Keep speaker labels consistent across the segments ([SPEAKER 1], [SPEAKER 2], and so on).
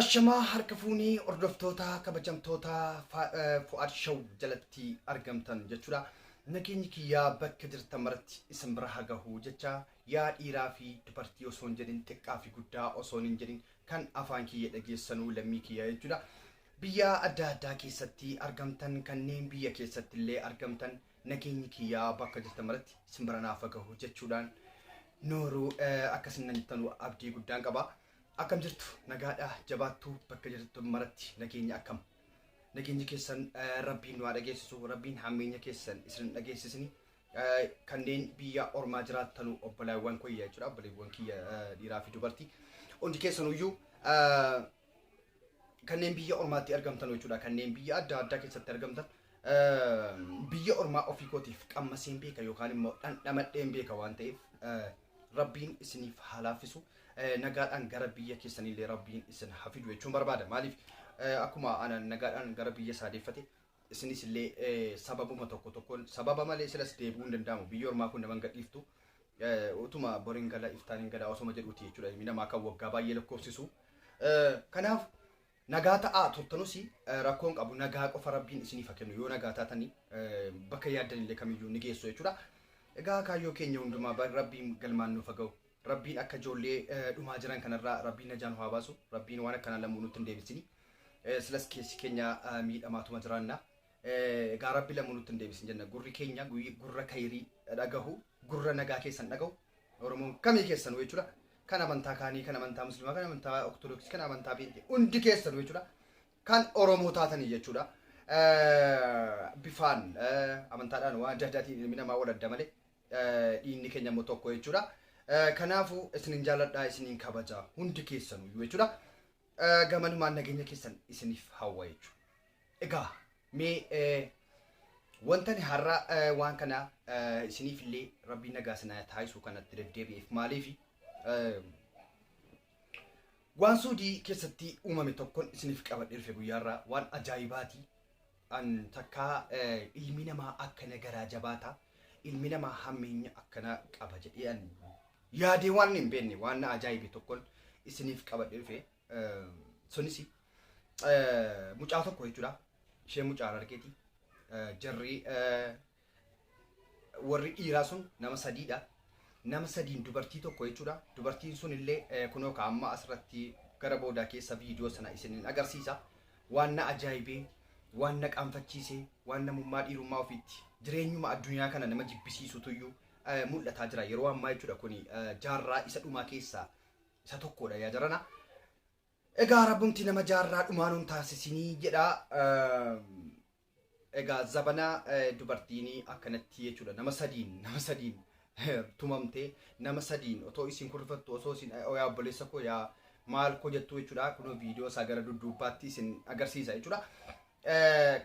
[SPEAKER 1] Ashamaa harka fuunii hordoftoota kabajamtoota Fu'aad Show jalatti argamtan jechuudha. Nageenyi kiyyaa bakka jirtan maratti isin bira haa gahu jecha yaa dhiiraa fi dubartii osoo hin jedhin xiqqaa fi guddaa osoo hin jedhin kan afaan kiyya dhageessanuu lammii kiyya jechuudha. Biyya adda addaa keessatti argamtan kanneen biyya keessatti illee argamtan Nageenyi kiyyaa bakka jirtan maratti isin bira naaf gahu jechuudhaan nooruu akka isin nan jirtan abdii guddaan qaba. Akkam jirtu nagaadha jabaattu bakka jirtan maratti nageenya akkam. Nageenyi keessan rabbiin nu haa dhageessisu rabbiin hammeenya keessan isin hin dhageessisini. Kanneen biyya ormaa jiraattanu obbolaawwan kiyya jechuudha obbolaawwan kiyya dhiiraa fi dubartii hundi keessanuyyuu kanneen biyya ormaatti argamtan jechuudha kanneen biyya adda addaa keessatti argamtan biyya ormaa ofii kootiif qammaseen beeka yookaan immoo dhandhamadheen beeka waan ta'eef rabbiin isiniif haa laaffisu nagaadhaan gara biyya keessanillee rabbiin isin hafidu jechuun barbaada maaliif akkuma ana nagaadhaan gara biyya isaa deeffate isinis illee sababuma tokko tokkoon sababa malee silas deebi'uu hin danda'amu biyya ormaa kun nama hin gadhiiftu utuma boriin gala iftaan hin gala osoma jedhuuti jechuudha ilmi namaa kan waggaa baay'ee lakkoofsisu kanaaf nagaa ta'aa turtanus rakkoon qabu nagaa qofa rabbiin isiniif haa kennu yoo nagaa taatanii bakka yaaddan illee kamiyyuu ni geessu jechuudha egaa kaayyoo keenya hundumaa rabbiin galmaan nuuf haa ga'u Rabbiin akka ijoollee dhumaa jiran kanarraa Rabbiin najaa nu haa baasu. Rabbiin waan akkanaa lammuu nutti hin deebisini. Silas keessi keenya miidhamaatuma jiraanna. Egaa Rabbi lammuu nutti hin deebisin jenna. Gurri keenya gurra kayirii dhagahu, gurra nagaa keessan dhagahu. Oromoon kamii keessanuu jechuudha. Kan amantaa kaanii, kan amantaa musliimaa, kan amantaa ortodoksii, kan amantaa peenxee hundi keessanuu jechuudha. Kan Oromoo taatanii jechuudha. Bifaan amantaadhaan waan adda addaatiin ilmi namaa wal adda malee dhiinni keenya immoo tokko jechuudha. Kanaafuu isinin jaaladhaa isinin kabajaa hundi keessanuyyuu jechuudha. Gamanumaan nageenya keessan isiniif hawwa jechuudha. Egaa mee wantani har'a waan kana isiniif illee rabbiin nagaa sinaa taasisuu kanatti deddeebi'eef maaliif waan suudii keessatti uumame tokkon isiniif qabadhee dhufe guyyaarraa waan ajaa'ibaati. an takkaa ilmi namaa akkana garaa jabaata ilmi namaa hammeenya akkana qaba jedhee an yaadee waan hin beekne waan na ajaa'ibe tokkon isiniif qabadhe dhufe sunis mucaa tokko jechuudha ishee mucaan argeeti jarri Warri dhiiraa sun nama sadiidha. Nama sadiin dubartii tokko jechuudha. Dubartiin sun illee kunoo ka amma asirratti gara boodaa keessa viidiyoo sana isinin agarsiisa. Waan na ajaa'ibee, waan na qaanfachiisee, waan namummaa dhiirummaa ofiitti jireenyuma addunyaa kana nama jibbisiisutuyyuu mul'ataa jira. Yeroo ammaa jechuudha kuni jaarraa isa dhumaa keessaa isa tokkodha yaa jarana. Egaa rabbumti nama jaarraa dhumaa nun taasisinii jedha. Egaa zabana dubartiini akkanatti jechuudha nama sadiin nama sadiin tumamte nama sadiin otoo isin kun rifattu osoo isin yaa obboleessa koo yaa maal koo jettu jechuudha kunoo viidiyoo isaa gara dudduubbaatti isin agarsiisa jechuudha.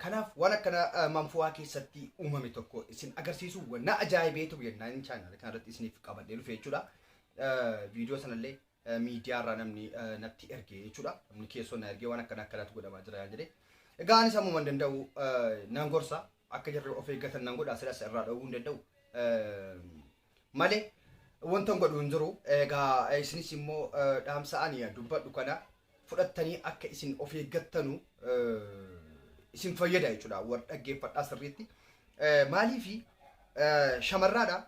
[SPEAKER 1] Kanaaf waan akkana manfuwaa keessatti uumame tokko isin agarsiisu wanna ajaa'ibee tokko jennaan chaanaala kanarratti isiniif qabadhee dhufe jechuudha. Viidiyoo sanallee miidiyaa irraa namni natti erge jechuudha. Namni keessoo na ergee waan akkana akkanaatu godhamaa jira yaan jedhee. Egaa anis ammuma hin danda'u nan gorsa akka jarri of eeggatan nan godha silas irraa dhowwuu hin danda'u. Malee wanta hin godhu hin jiru. Egaa isinis immoo dhaamsa ani dubbadhu kana fudhattanii akka isin of eeggattanu isin fayyada jechuudha. War dhaggeeffadhaa sirriitti. Maaliifi shamarraadha.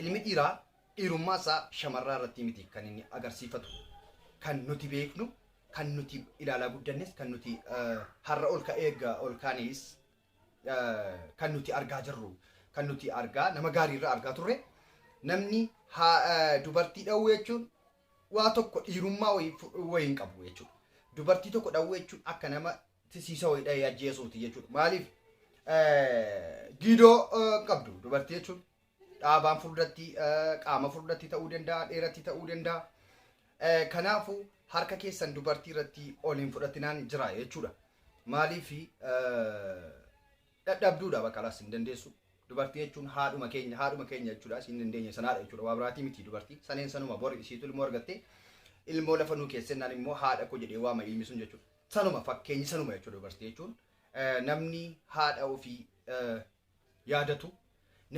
[SPEAKER 1] Ilmi dhiiraa dhiirummaa isaa shamarraa irrattii miti kan inni agarsiifatu. Kan nuti beeknu, kan nuti ilaalaa guddannes, kan nuti har'a ol ka'ee eegga ol kaanees kan nuti argaa jirru, kan nuti argaa nama gaarii irraa argaa turre namni dubartii dhawuu jechuun waa tokko dhiirummaa wayii hin qabu jechuudha. Dubartii tokko dhawuu jechuun akka nama tisiisa wayii dhahee ajjeesuuti jechuudha. Maaliif giidoo qabdu dubartii jechuun dhaabaan furdatti qaama furdatti ta'uu danda'a dheeratti ta'uu danda'a. Kanaafuu harka keessan dubartii irratti ol hin fudhatinaan jira jechuudha. Maaliif dadhabduudha bakka laas hin dandeessu. Dubartii jechuun haadhuma keenya haadhuma keenya jechuudha isin dandeenye sanaadha jechuudha waa biraatii miti dubartii saneen sanuma bori isiitu ilmoo argattee ilmoo lafa nuu keessennaan immoo haadha koo jedhee waama ilmi sun jechuudha. Sanuma fakkeenyi sanuma jechuudha dubartii jechuun namni haadha ofii yaadatu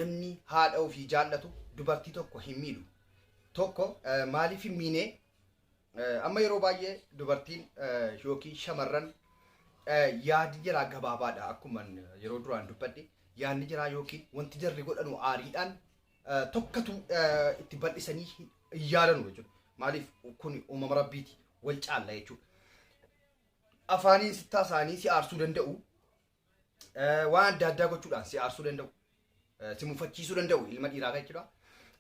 [SPEAKER 1] namni haadha ofii jaallatu dubartii tokko hin miidhu. Tokko maaliif hin miine amma yeroo baay'ee dubartiin yookiin shamarran yaadi jiraa gabaabaadha akkuma yeroo duraan dubbadhe yaadni jiraa yookiin wanti jarri godhanu aariidhaan eh, tokkatu eh, itti bal'isanii hin hin yaadanu jechuudha. Maaliif kun uumama rabbiiti wal caalla jechuudha. Afaaniin sittaa isaanii si aarsuu danda'u. eh, Waan adda addaa gochuudhaan si aarsuu danda'u. eh, Si mufachiisuu danda'u ilma dhiiraa kan jechuudha.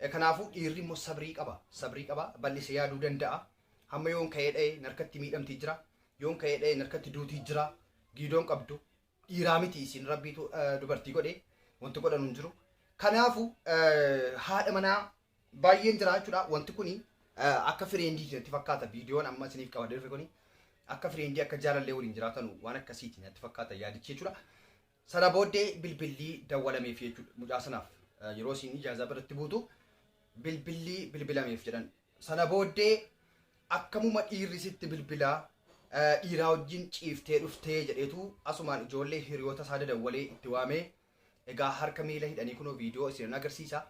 [SPEAKER 1] Eh, Kanaafuu dhiirri immoo sabrii qaba. Sabrii qaba. Bal'isee yaaduu danda'a. Hamma yoon ka'ee dha'ee narkatti miidhamtii jira. Yoon ka'ee dha'ee narkatti duutii jira. Giidoon qabdu. dhiiraa miti isin rabbiitu eh, dubartii godhe wanti godhanu hin jiru kanaafu eh, haadha manaa baay'een jira jechuudha wanti kuni eh, akka fireendii natti fakkaata viidiyoon amma isiniif qabadee dhufe kuni akka fireendii akka jaalallee waliin jiraatanu waan akkasiiti natti fakkaata yaadichi jechuudha sana booddee bilbilli dawwalameef jechuudha mucaa sanaaf eh, yeroo isin ijaazaa biratti buutu bilbilli bilbilameef jedhan Sana booddee akkamuma dhiirri sitti bilbilaa dhiiraa wajjin ciiftee dhuftee jedheetu asumaan ijoollee hiriyoota isaa dadawwalee itti waamee egaa harka miila hidhanii kunoo viidiyoo isinan agarsiisa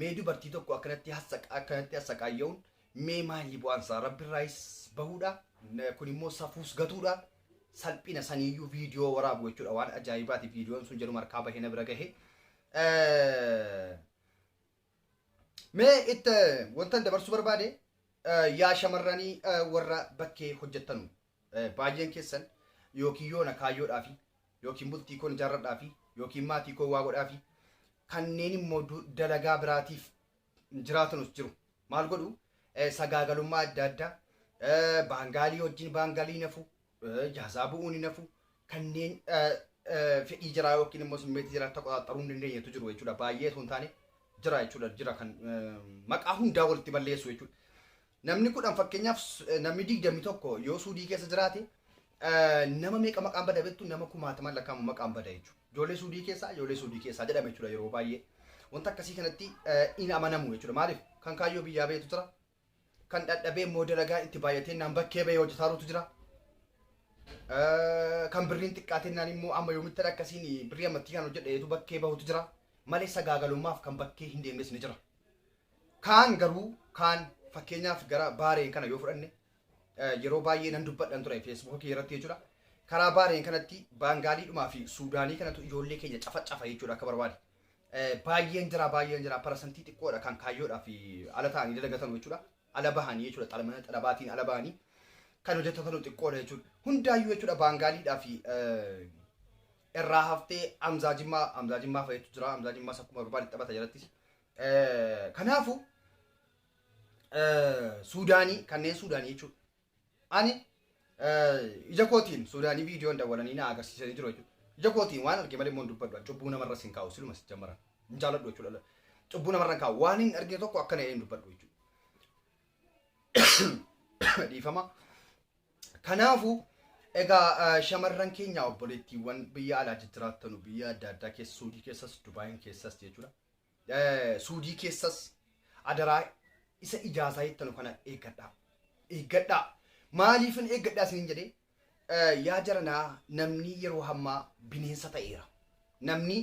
[SPEAKER 1] mee dubartii tokko akkanatti akkanatti assaqaayya'uun mee maalii bu'aansaa rabbirraayis bahuudha kun immoo safuus gatuudha salphina saniiyyuu viidiyoo waraabu jechuudha waan ajaa'ibaati viidiyoon sun jedhuma harkaa bahee na bira gahe Mee it wantan dabarsuu barbaade yaa shamarranii warra bakkee hojjettanu baay'een keessan yookiin yoona kaayyoodhaafi yookiin bultii koon ijaarradhaafi yookiin maatii koo waa godhaafi kanneen immoo dalagaa biraatiif jiraatanus jiru. Maal godhu sagaagalummaa adda addaa baangaalii wajjin baangaalii nafu Ijaazaa bu'uun hin hafu. Kanneen fedhii jiraa yookiin immoo simmeetii jiraa akka qoxaaxxaruu hin dandeenyetu jiru jechuudha. Baay'ee osoo hin taane jira jechuudha. Jira kan maqaa hundaa walitti balleessu jechuudha. Namni kudhan fakkeenyaaf namni digdami tokko yoo suudii keessa jiraate nama meeqa maqaan bada beektu nama kumaataman lakkaa'amu maqaan bada jechuudha. Ijoollee suudii keessaa ijoollee suudii keessaa jedhama jechuudha yeroo baay'ee. Wanta akkasii kanatti hin amanamu jechuudha. Maaliif kan kaayyoo biyyaa beektu jira kan dhadhabee immoo dalagaan itti baay'ateennaan bakkee bahee hojjetaarutu jira. Eh, Kan birriin xiqqaateennaan immoo amma yoomittan akkasiin birrii ammattii kan hojjedheetu bakkee bahutu jira. Malee sagaagalummaaf kan bakkee hin deemnes ni jira. Kaan garuu kaan fakkeenyaaf gara baareen kana yoo fudhanne eh, yeroo baay'ee nan dubbadhan ture feesbuuka kee irratti jechuudha. Karaa baareen kanatti baangaaliidhumaa fi suudaanii kanatu ijoollee keenya cafa cafa jechuudha akka barbaade. Baay'een jira baay'een jira parasantii xiqqoodha kan kaayyoodhaaf ala ta'anii dalagatan jechuudha. Ala bahanii jechuudha xalamana xalabaatiin ala bahanii kan hojjetatan xiqqoodha jechuudha. Hundaayyuu jechuudha baangaaliidhaa fi irraa haftee amzaa jimmaa amzaa jimmaa fayyatu jira amzaa jimmaa sakkuma barbaade taphata jalattis. Kanaafuu Suudaanii kanneen Suudaanii jechuudha. Ani ija kootiin Suudaanii viidiyoon dawwalanii na agarsiisanii jiru jechuudha. Ija kootiin waan arge malee immoo hin dubbadhu. Cubbuu namarra sin kaa'u siluma sin jammaran. Hin jaaladhu jechuudha. Cubbuu namarra hin kaa'u. Waan hin argine tokko akkana jedhee hin dubbadhu jechuudha. Dhiifama. Kanaafuu egaa eh, shamarran keenya obboleettiiwwan biyya alaa jijjiraattanu biyya adda addaa keessa Suudii keessas Dubaayin keessas jechuudha. Suudii keessas adaraa isa ijaasaa jettanu kana eeggadhaa. Eeggadhaa. Maaliifin eeggadhaa isiniin jedhee? Yaa jaranaa namni yeroo hammaa bineensa ta'eera. Namni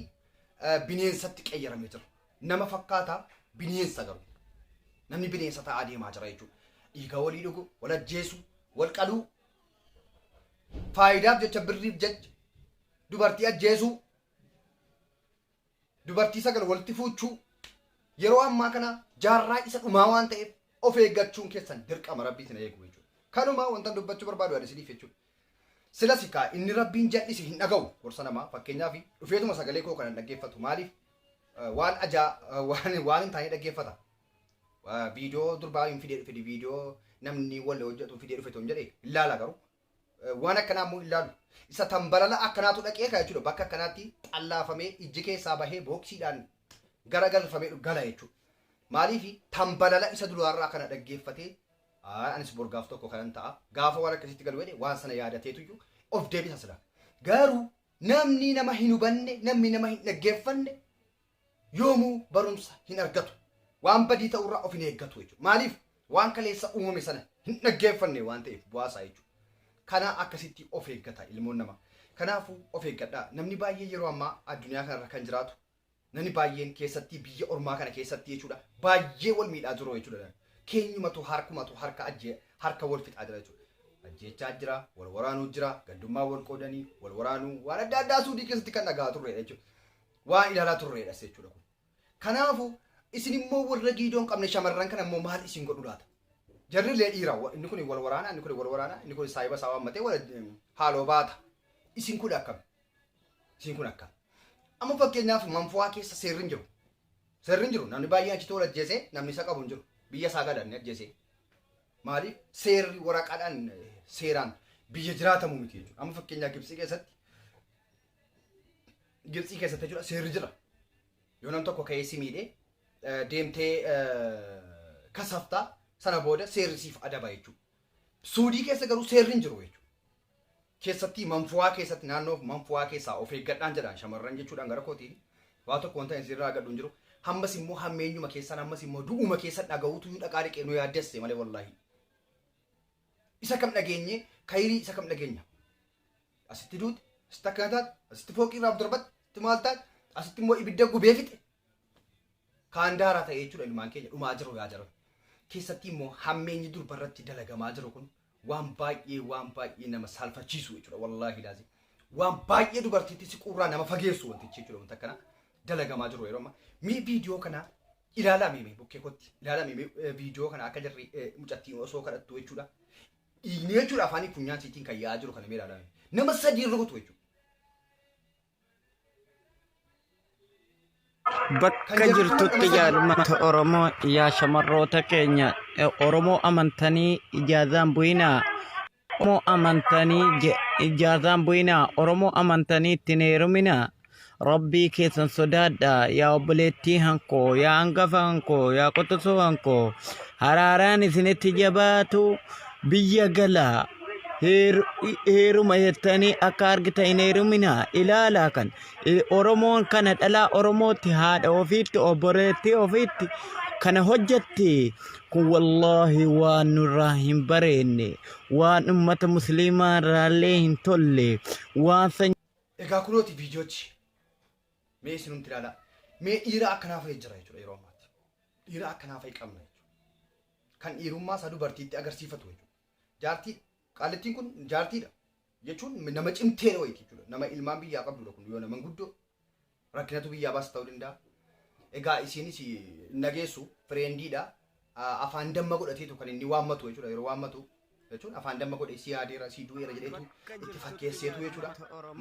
[SPEAKER 1] bineensatti qayyaramee jira. Nama fakkaata bineensa garuu. Namni bineensa ta'aa deemaa jira jechuudha. Dhiiga walii dhugu, wal ajjeesu, wal qaluu. Faayidaaf jecha birriif jecha dubartii ajjeesuu. dubartii sagal walitti fuuchuu yeroo ammaa kana jaarraa isa dhumaa waan ta'eef of eeggachuun keessan dirqama rabbii isin eegu jechuudha. Kanuma wantan dubbachuu barbaadu ani isiniif jechuudha. Silasi kaa inni rabbiin jal'ise hin dhaga'u gorsa namaa fakkeenyaaf dhufeetuma sagalee koo kanan dhaggeeffatu maaliif eh, waan ajaa eh, waan waan hin taane dhaggeeffata. Eh, Viidiyoo durbaa hin fidee dhufe viidiyoo namni wal hojjetu fidee dhufe toon jedhe hin laala garuu waan akkanaa immoo hin laalu. Isa tambalala akkanaatu dhaqee kaa jechuudha. Bakka akkanaatti xallaafamee ijji keessaa bahee booksiidhaan gara galfamee dhu- gala jechuudha. Maaliif tambalala isa duraarraa kana dhaggeeffatee "Aa, anis bor gaaf tokko kanan ta'a. Gaafa waan akkasitti galu jedhe waan sana yaadateetuyyuu of deebisa sila. Garuu namni nama hin hubanne, namni nama hin dhaggeeffanne yoomuu barumsa hin argatu. Waan badii ta'u irraa of hin eeggatu jechuudha. Maaliif? Waan kaleessa uumame sana hin dhaggeeffanne waan ta'eef bu'aa isaa jechuudha. Kanaa akkasitti of eeggata ilmoon namaa. Kanaafuu of eeggadhaa. Namni baay'ee yeroo ammaa addunyaa kanarra kan jiraatu namni baay'een keessatti biyya ormaa kana keessatti jechuudha baay'ee wal miidhaa jiru jechuudha. Keenyumatu harkumatu harka ajjee harka wal fixaa jira jechuudha. Ajjeechaa jira, wal waraanuu jira, gandummaa wal qoodanii, wal waraanuu waan adda addaa suudii keessatti kan dhagaa turre jechuudha. waan ilaalaa turreedhas jechuudha kun. Kanaafu isin immoo warra giidoo hin qabne shamarran kana immoo maal isin godhu laata? Jarri illee dhiira wa- inni kun wal waraana inni kun wal waraana inni kun saahiba isaa waammatee wal haaloo baata. Isin kun akkam? Isin kun akkam? Amma fakkeenyaaf manfuwaa keessa seerri hin jiru. Seerri hin jiru namni baay'een achitti wal ajjeesee namni isa qabu hin jiru. Biyya isaa galan ajjeesee. Maaliif seerri waraqaadhaan eh, seeraan biyya jiraatamu miti jechuudha. Amma fakkeenyaa Gibsii keessatti Gibtsii keessatti jechuudha seerri jira. Yoo nam tokko ka'ee si miidhe eh, deemtee eh, kasaftaa sana booda seerri siif adaba jechuudha. Suudii keessa garuu seerri hin jiru jechuudha. Keessatti manfuwaa keessatti naannoo manfuwaa keessaa of eeggadhaan jedhaan shamarran jechuudhaan gara kootiin waa tokko wanta isin irraa gadhu hin jiru. Hammas immoo hammeenyuma keessan hammas immoo du'uma keessa dhaga'uutu dhaqaa dhiqee nu yaaddesse malee wallaahi. Isa kam dhageenyee kayirii isa kam dhageenya. Asitti duute, asitti akkana taate, asitti fooqii irraa darbate, asitti maal taate, asitti immoo ibidda gubee fixe. Kaan daaraa ta'e jechuudha ilmaan keenya dhumaa jiru yaa jiran. Keessatti immoo hammeenyi durba irratti dalagamaa jiru kun waan baay'ee waan baay'ee nama saalfachiisu jechuudha wallaahi laazim. Waan baay'ee dubartiitti siquurraa nama fageessu wantichi jechuudha wanta akkana dalagamaa jiru yeroo ammaa. Mee viidiyoo kana Ilaalaa mee mee bukkee kotti ilaalaa mee mee viidiyoo kana akka jarri eh, mucattiin osoo kadhattu jechuudha. Dhiigni jechuudha afaanii funyaan siitiin kan yaa'aa jiru kana mee ilaalaa mee. Nama sadii rukutu jechuudha.
[SPEAKER 2] Bakka jirtutti jaalummaata Oromoo yaa shamarroota keenya eh, Oromoo amantanii ijaazaan bu'inaa Oromoo amantanii je- ijaazaan bu'inaa, Oromoo amantanii ittiin heeruminaa, Rabbii keessan sodaadhaa, yaa obboleettii hankoo, yaa hangafa hankoo, yaa quxusuu hankoo, haraaraan isinitti jabaatu biyya galaa, heer- heeruma jettanii akka argitan hin heeruminaa, ilaalaa kan I- Oromoon kana dhalaa Oromootti, haadha ofiitti, obboleettii ofiitti, kana hojjetti kun wallaahi waan nurraa hin bareenne waan ummata musliimaa irraallee hin tolle waan san Egaa
[SPEAKER 1] kunooti viidiyochi mee isinumti ilaalaa mee dhiira akkanaa fa'i jira jechuudha yeroo ammaatti dhiira akkanaa fa'i qabna jechuudha kan dhiirummaa isaa dubartiitti agarsiifatu jechuudha jaartii qaalittiin kun jaartiidha jechuun nama cimteera wayiiti jechuudha. Nama ilmaan biyyaa qabdudha kun yoo nama guddoo rakkinatu biyyaa baasa ta'uu danda'a. Egaa isiinis nageessu fireendiidha. Afaan damma godhateetu kan inni waammatu jechuudha yeroo waammatu. jechuun afaan damma godhe si yaadeera si du'eera jedheetu itti fakkeesseetu jechuudha.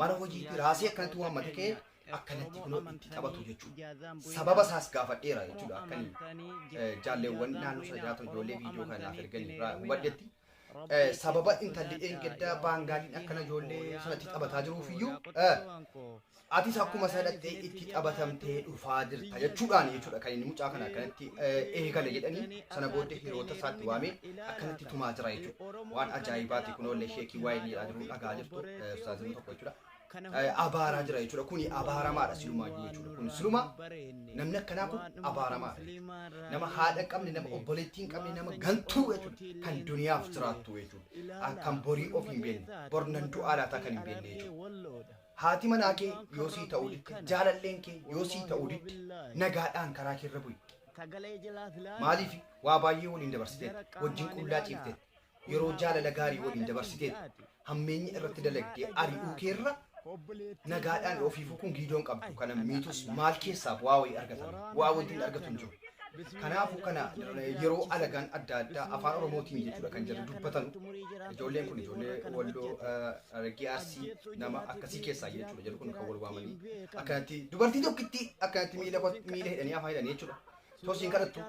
[SPEAKER 1] Mana hojiitti raasee akkanatti waammate ka'ee akkanatti kunoo itti taphatu jechuudha. Sababa isaas gaafadheera jechuudha. Akkan jaalleewwan naannoo sana jiraatan ijoollee viidiyoo kanaaf ergan irraa hubadhetti. Sababa intalli dheengaddaa baangaaliin akkana ijoollee sanatti taphataa jiruufiyyuu atis akkuma isa dhattee itti taphatamtee dhufaa jirta jechuudhaan jechuudha kan inni mucaa kana akkanatti eegale jedhanii sana booddee hiriyoota isaatti waamee akkanatti tumaa jira jechuudha. Waan ajaa'ibaati kun oollee sheekii waa'ee miidhaa jiru dhagaa jirtu ustaazimni tokko jechuudha. abaaraa jira jechuudha. Kuni abaaramaadha silumaayyuu jechuudha. Kun siluma namni akkanaa kun abaaramaadha jechuudha. Nama haadha hin qabne, nama obboleettii hin qabne, nama gantuu jechuudha. Kan duniyaaf jiraattu jechuudha. Akkan borii of hin beekne, bor nan du'aa laataa kan hin beekne jechuudha. Haati manaa kee yoo sii ta'uu didde, jaalalleen kee yoo sii ta'uu didde, nagaadhaan karaa kee irra bu'i. Maaliif waa baay'ee waliin dabarsiteetti, wajjin qullaa ciifteetti, yeroo jaalala gaarii waliin dabarsiteetti, hammeenya irratti dalagdee ari'uu keerra nagaadhaan ofii fukuun giidoon qabdu kana miitus maal keessaaf waa wayii argatan waa wanti hin argatu hin jiru. Kanaafuu kana yeroo alagaan adda addaa afaan oromootiin jechuudha kan jedhu dubbatan ijoolleen kun ijoollee walloo raggee arsii nama akkasii keessaa jechuudha jedhu kun kan wal waamanii akkanatti dubartii tokkitti akkanatti miila miila hidhanii afaan hidhanii jechuudha. Tosiin kanattu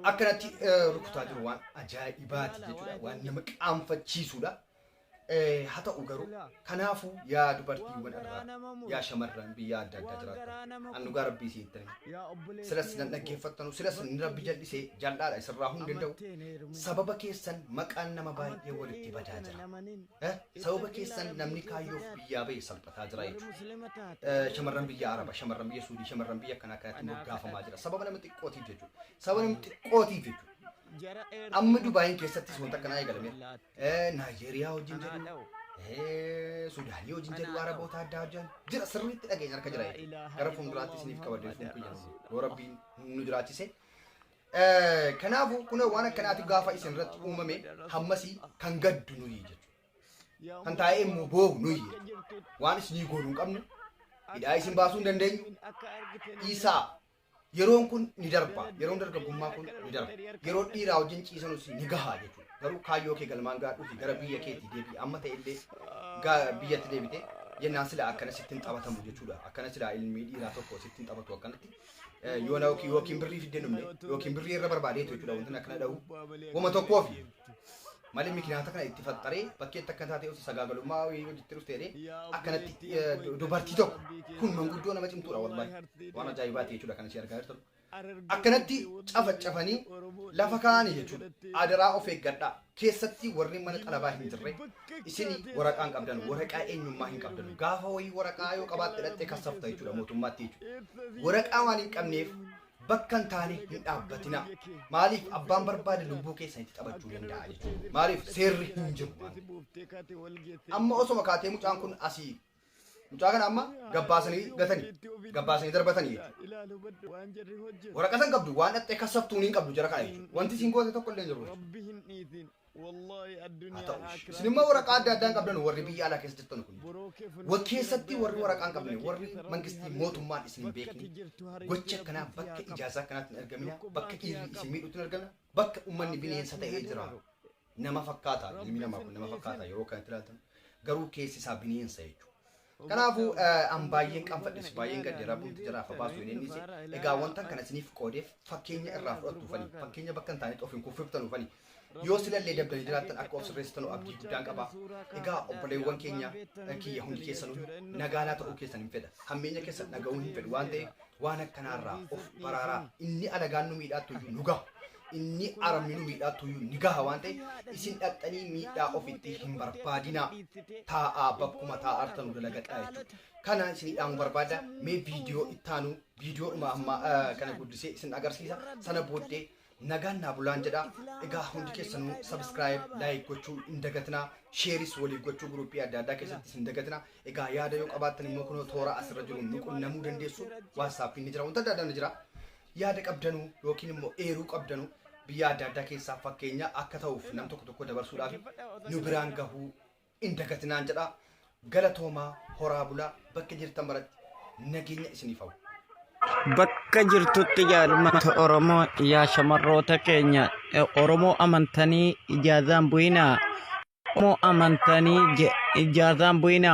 [SPEAKER 1] akkanatti rukutaa jiru waan ajaa'ibaati jechuudha. Waan nama qaanfachiisudha. Haa ta'u garuu kanaafuu yaa dubartiiwwan irraa yaa shamarran biyya adda addaa jiraattan an dhugaa rabbii si ittiin silas nan dhaggeeffattanu silas ni rabbi jal'isee jal'aadha isirraa hin danda'u sababa keessan maqaan nama baay'ee walitti badaa jira Eh, sababa keessan namni kaayyoof biyyaa ba'e salphataa jira jechuudha. Eh, Shamarran biyya Araba, shamarran biyya Suudii, shamarran biyya akkanaa kanatti moggaafamaa jira. Sababa nama xiqqootiif jechuudha. Sababa nama xiqqootiif jechuudha. Amma Dubaayin keessattis wanta akkanaa eegalame. Eh, Naayijeeriyaa wajjin jedhu, eh, Sudaanii wajjin jedhu, Araboota addaa wajjin jira. Sirriitti dhageenya harka jira jechuudha. Gara fuulduraatti isiniif qabadee fuun kiyyan yoo rabbiin nu jiraachise Kanaafuu kunoo waan akkanaati gaafa isin irratti uumame hammasii kan gaddu nuyi jechuudha. Kan taa'ee immoo boohu nuyi jechuudha. Waan isinii goonu hin qabnu. Hidhaa isin baasuu hin dandeenyu. Dhiisaa yeroon kun ni darba. Yeroon dargaggummaa kun ni darba. Yeroo dhiiraa wajjin ciisanus ni gahaa jechuudha. Garuu kaayyoo kee galmaan gaadhuufi gara biyya keetii deebi'i. Amma ta'e illee ga- biyyatti deebite jennaan sila akkana sittiin taphatamu jechuudha. Akkana sila ilmi dhiiraa tokko sittiin taphatu akkanatti. Eh, yoona yookiin yookiin birrii fiddee dhumne yookiin birrii irra barbaadeetu jechuudha wantoonni akkana dha'u goma tokkoo fi malee mikinaata kana itti faxxaree bakkeetti akka taatee osoo sagaagalummaa wayii hojitti dhufteedhe akkanatti eh, du- dubartii tokko kun manguddoo nama cimtuudha wallahi waan ajaa'ibaati jechuudha kan ishee argaa jirtu akkanatti cafacafanii lafa kaa'anii jechuudha adaraa of eeggadhaa keessatti warri mana xalabaa hin jirre isin waraqaa hin qabdan waraqaa eenyummaa hin qabdan gaafa wayii waraqaa yoo qabaatte dhattee kassafta jechuudha mootummaatti jechuudha waraqaa waan hin qabneef bakka hin taane hin dhaabbatina maaliif abbaan barbaade lubbuu keessan itti taphachuu danda'a jechuudha maaliif seerri hin jiru waan ta'eef. amma osoma kaatee mucaan kun asii Mucaa kana amma gabbaasanii gatanii gabbaasanii darbatanii jechuudha. Waraqaa san qabdu waan dhaxxee kassabtuun hin qabdu jara kana jechuudha. Wanti isin goote tokko illee hin jiru. Haa ta'u ishee. Isin immoo waraqaa adda addaan qabdan warri biyya alaa keessa jirtan kun. Wal keessatti warri waraqaa hin qabne warri mangistii mootummaan isin hin beekne gocha akkanaa bakka ijaazaa akkanaatti hin argamina bakka dhiirri isin miidhutti hin argamina bakka uummanni bineensa ta'ee jira. nama fakkaata ilmi namaa kun nama fakkaata yeroo kanatti ilaaltan garuu keessi isaa bineensa jechuudha. Kanaafuu eh, an baay'een qanfadhes baay'een gadde rabbuun jara afa baasu hin ennise egaa wantan kana isiniif qoodeef fakkeenya irraa fudhattu fani fakkeenya bakka hin taanetti of hin kuffiftan fani yoo silallee dabdanii jiraattan akka of sirreessitan abdii guddaan qaba egaa obboleewwan keenya eh, kiyya hundi keessanuu nagaanaa ta'uu keessan hin fedha hammeenya keessan dhaga'uu hin fedhu waan ta'eef waan akkanaarraa of baraaraa inni alagaan nu miidhaattu iyyuu nu gaha inni arminu miidhaa tuyyuu ni gaha waan ta'e isin dhaqxanii miidhaa ofitti hin barbaadinaa taa'aa bakkuma taa'artanu dalagadhaa jechuudha. Kana isin dhaamu barbaada mee viidiyoo ittaanu viidiyoo dhuma amma kana guddisee isin agarsiisa sana booddee nagaan naa bulaan jedha egaa hundi keessanuu sabiskiraayib laayik gochuu hin dagatinaa sheeris waliif gochuu guruppii adda addaa keessatti hin dagatinaa egaa yaada yoo qabaattan immoo kunoo toora asirra jiru nu qunnamuu dandeessu waatsaappii ni jira wanta adda addaa ni jira Yaada qabdanuu yookiin immoo eeruu qabdanuu biyyaa adda addaa keessaa fakkeenya akka ta'uuf nam tokko tokko dabarsuudhaaf nu biraan gahuu hin dagatinaan jedha. Galatoomaa horaa bulaa bakka jirtan maratti nageenya isiniif hawwa. Bakka
[SPEAKER 2] jirtutti jaalmata Oromoo yaa shamarroota keenya eh, Oromoo amantanii ijaazaan bu'inaa Oromoo amantanii je- ijaazaan bu'inaa